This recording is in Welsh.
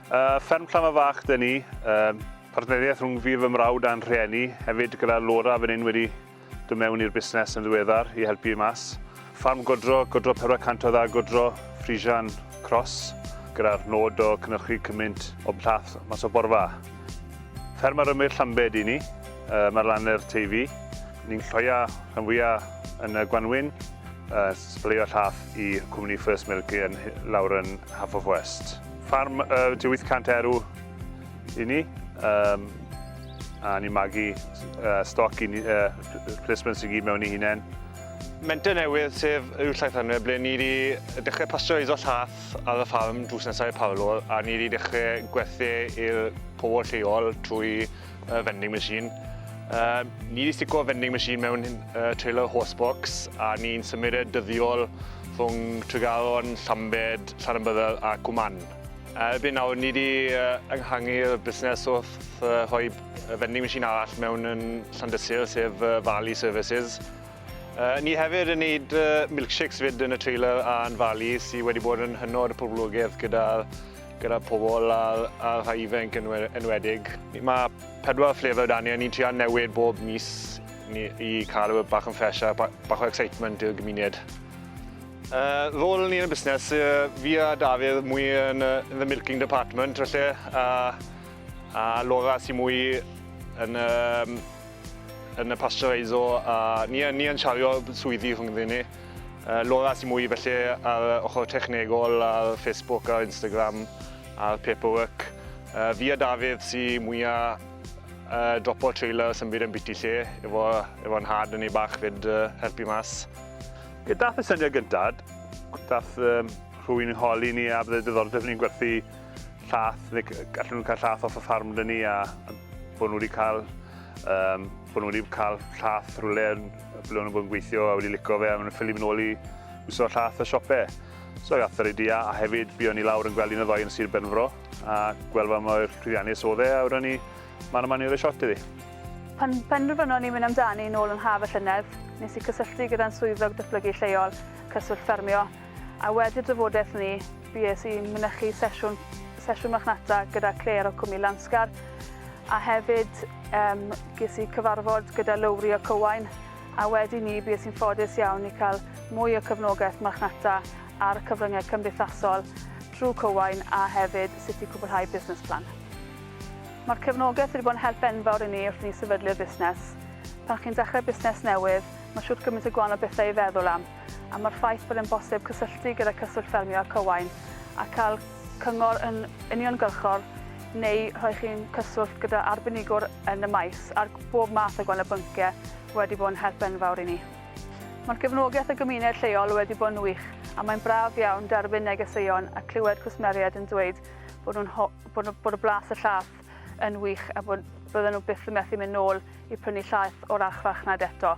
Uh, fferm Llama Fach dyn ni, uh, partneriaeth rhwng fi fy mrawd a'n rhieni, hefyd gyda Laura fan hyn wedi dod mewn i'r busnes yn ddiweddar i helpu i mas. Ffarm godro, godro 400 o dda godro, Frisian Cross, gyda'r nod o cynnyrchu cymaint o blath mas o borfa. Fferm ar ymyl Llambed i ni, mae'r laner Teifi. Ni'n lloio rhan fwyaf yn y gwanwyn, sbleio llath i cwmni First Milk yn lawr yn Half of West. Ffarm tua 800 erw i ni, a ni'n magu stoc i ni, replacements i gyd mewn i hunain. Menter newydd sef Uwch Llaethanwyr ble ni 'di dechrau pastwreisio llath. ar y ffarm drws nesaf i'r parlor a ni wedi dechrau gwerthu i'r pobl lleol trwy uh, vending machine. Uh, ni wedi stico vending machine mewn uh, trailer horsebox a ni'n symud e dyddiol rhwng Tregaron, Llambed, Llanymbyddel a Cwman. Erbyn nawr, ni wedi ynghangu'r busnes wrth rhoi vending machine arall mewn yn Llandysul, sef Valley Services. Yy ni hefyd yn neud yy milkshakes 'fyd yn y trailer a'n fali sy wedi bod yn hynod y poblogedd gyda gyda pobol a a rhai ifenc yn we- enwedig. Ma' pedwar flavour 'da ni a ni'n trio newid bob mis ni i ca'l e we- bach yn ffresh a ba- bach o excitement i'r gymuned. Yy rôl ni yn y busnes yy fi a Dafydd mwy yn yy yn the milking department falle a a Laura sy mwy yn yym yn y pasteureiso a ni, ni yn siario swyddi rhwng ddyn ni. Uh, Laura sy'n mwy felly ar ochr technegol ar Facebook a Instagram a'r paperwork. Uh, fi a Dafydd sy'n mwyaf uh, dropo trailer sy'n byd yn biti lle efo, efo nhad yn ei bach fyd uh, helpu mas. Ie, dath y syniad gyntaf, dath um, rhywun yn holi ni a byddai diddordeb ni'n gwerthu llath, neu gallen nhw cael llath off y ffarm dyn ni a bod nhw wedi cael, um, bod nhw wedi cael llath rhywle ble nhw'n bod yn gweithio a wedi licio fe a maen nhw'n ffili mynd ôl i wisgo llath y siopau. So gath yr idea a hefyd bu o'n i lawr yn gweld un o ddoi yn Sir Benfro a gweld fa mor llwyddiannus oedd e a wrwn ni man yma ni roi shot iddi. Pan penderfynon ni mynd amdani nôl yn haf y llynedd, nes i cysylltu gyda'n swyddog datblygu lleol, Cyswllt Ffermio, a wedi'r drafodaeth ni, Bues i'n mynychu sesiwn, sesiwn marchnata gyda Claire o Cwmni Lansgar a hefyd um, ges i cyfarfod gyda Lowri o Cywain a wedi ni bues i'n ffodus iawn i cael mwy o cyfnogaeth marchnata a'r cyfryngau cymdeithasol trwy Cywain a hefyd sut i cwblhau busnes plan. Mae'r cefnogaeth wedi bod yn help enfawr i ni wrth ni sefydlu'r busnes. Pan chi'n dechrau busnes newydd, mae siwt gymaint o gwahanol bethau i feddwl am, am yr ffaith bod yn bosib cysylltu gyda Cyswllt Ffermio ac Owain a cael cyngor yn uniongyrchol neu rhoi chi'n cyswllt gyda arbenigwr yn y maes ar bob math o gwahanol bynciau wedi bod yn help enfawr i ni. Mae'r gefnogaeth y gymuned lleol wedi bod yn wych a mae'n braf iawn derbyn negeseuon a clywed cwsmeriaid yn dweud bod, nhw'n ho- bod, nhw, bod y blas y llath yn wych a bod bydden nhw byth yn methu mynd nôl i prynu llaeth o'r archfarchnad eto.